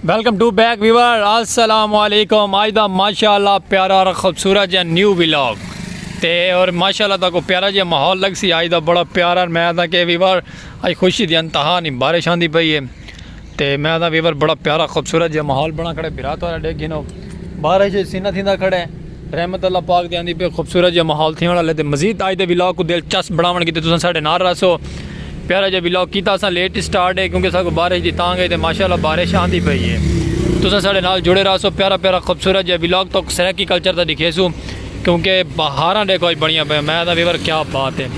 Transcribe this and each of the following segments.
Welcome to back viewer السلام علیکم آج دا ماشاءاللہ پیارا اور خوبصورت جا نیو ویلاگ تے اور ماشاءاللہ تا کو پیارا جا ماحول لگ سی آج دا بڑا پیارا میں دا کہ ویور آج خوشی دی انتہا نہیں بارش آن دی پئی ہے تے میں دا ویور بڑا پیارا خوبصورت جا ماحول بنا کھڑے برات والا ڈیکھ گھنو بارش سینہ تھیندہ کھڑے رحمت اللہ پاک دے آندی پہ خوبصورت جا ماحول تھیون والے تے مزید آج دے ولاگ کو دلچسپ بناون کیتے تساں ساڈے نال رہسو پیارا جا ولاگ کیتا اساں لیٹ سٹارٹ ہے کیونکہ ساکو بارش دی تانگ ہے تے ماشاءاللہ بارش آندی پئی ہے تساں ساڈے نال جڑے رہسو پیارا پیارا خوبصورت جا ولاگ تو سرائیکی کلچر دا دکھیسو کیونکہ بہاراں دیکھو اج بنیاں پئیاں میں آکھدا ویور کیا بات ہے۔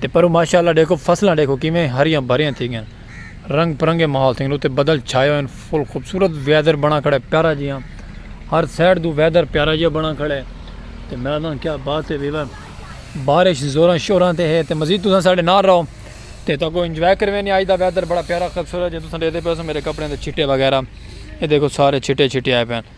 تے پروں ماشاءاللہ ڈیکھو فصلاں ڈیکھو کیویں ہریاں بھریاں تھی گیاں رنگ پرنگے ماحول تھیں تے بدل چھائے ہوئے فل خوبصورت ویدر بنا کھڑے پیارا جیاں ہر سائڈ دو ویدر پیارا جیاں بنا کھڑے تے میں نہ کیا بات ہے ویور بارش زوراں شوراں تے ہے تے مزید تساں ساڈے نال رہو تے تاکو انجوائے کرویں نہیں آج دا ویدر بڑا پیارا خوبصورت جے تساں دیکھتے پے سو میرے کپڑے دے چھٹے وغیرہ اے دیکھو سارے چھٹے چھٹے آئے پے ہیں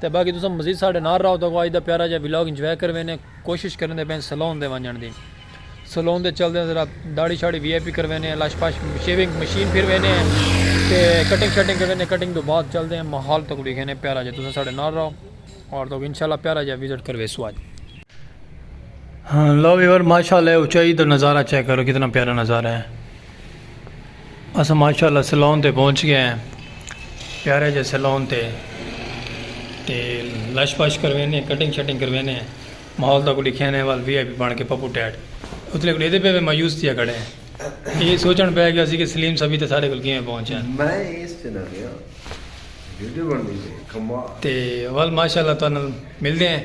تے باقی تساں مزید ساڈے نال راہو تاکو اج دا پیارا جیہا ولاگ انجوائے کر وینے کوشش کریندے پئے سلون دے ونجنڑ دی سلون دے چلدے ذرا داڑھی شاڑھی وی آئی پی کر وینے لش پش شیونگ مشین پھر وینے تے کٹنگ شٹنگ کر وینے کٹنگ دو بعد چلدے ہیں ماحول تاکو ویکھینے پیارا جیہا تساں ساڈے نال راہو اور تاکو انشاءاللہ پیارا جیہا وزٹ کر ویسو اج ہاں لو ویور ماشاءاللہ اچائی دا نظارہ چیک کرو کتنا پیارا نظارہ ہے۔ اساں ماشاء اللہ سیلون تے پہنچ گئے ہیں پیارے جے سیلون تے تے لش پش کروینے کٹنگ شٹنگ کروینے ماحول دا کو لکھے نے وال وی آئی پی بن کے پپو ٹیٹ اتلے کو لیتے پہ میں مایوس تھیا کھڑے ہیں یہ سوچن پہ گیا سی کہ سلیم سبھی تے سارے کل کیویں پہنچے ہیں میں اس چنا گیا ویڈیو بن دی کمال تے وال ماشاء اللہ تو ملتے ہیں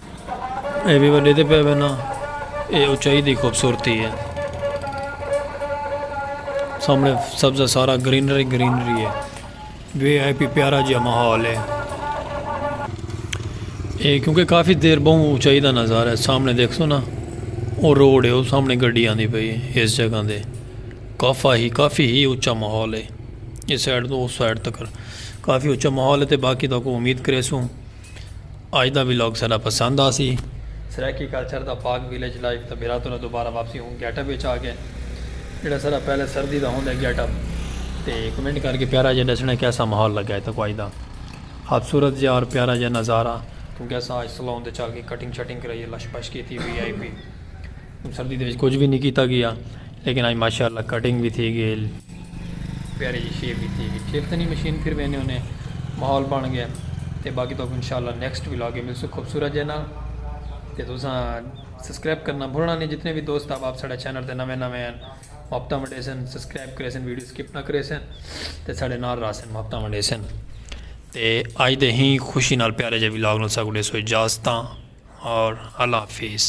اے وی وڈے تے پے وینا اے اچائی دی خوبصورتی ہے سامنے سبزہ سارا گرینری گرینری ہے وی آئی پی پیارا جہا ماحول ہے اے کیونکہ کافی دیر بہوں اچائی دا نظارہ ہے سامنے دیکھ سو نا او روڈ ہے او سامنے گڈی آندی پئی ہے اس جگہ دے کافا ہی کافی ہی اچا ماحول ہے اس سائڈ تو اس سائڈ تک کافی اچا ماحول ہے تے باقی تو کو امید کرے سوں اج دا ولاگ ساڈا پسند آسی۔ سرائیکی کلچر دا پاک ویلیج لائف دا بھیرا تنوں دوبارہ واپسی ہوں گیٹ اپ وچ آ گئے جیڑا سارا پہلے سردی دا ہوندے گیٹ اپ تے کمنٹ کر کے پیارا جے ڈسنے کیسا ماحول لگا ہے تاں کو اج دا خوبصورت جے اور پیارا جے نظارہ توں کیسا اج سلون دے چل کے کٹنگ شٹنگ کرائی ہے لش پش کیتی وی آئی پی سردی دے وچ کجھ وی نی کیتا گیا لیکن اج ماشاءاللہ کٹنگ وی تھی گئل پیاری جی شیپ وی تھی گئل شیپ تنی مشین پھر وینے ہونے ماحول بن گئے تے باقی تو انشاءاللہ نیکسٹ وی لاگے ملسو خوبصورت جے نال تے دوساں سبسکرائب کرنا بھولنا نہیں جتنے بھی دوست آپ آپ ساڑھا چینل تے نوے نوے ہیں محبتہ منڈے سن سبسکرائب کرے سن ویڈیو سکپ نہ کرے سن تے ساڑھے نال رہا سن محبتہ منڈے سن تے آج دے ہی خوشی نال پیارے جے وی لاگ نال ساکو دے سو اجازتاں اور اللہ حافظ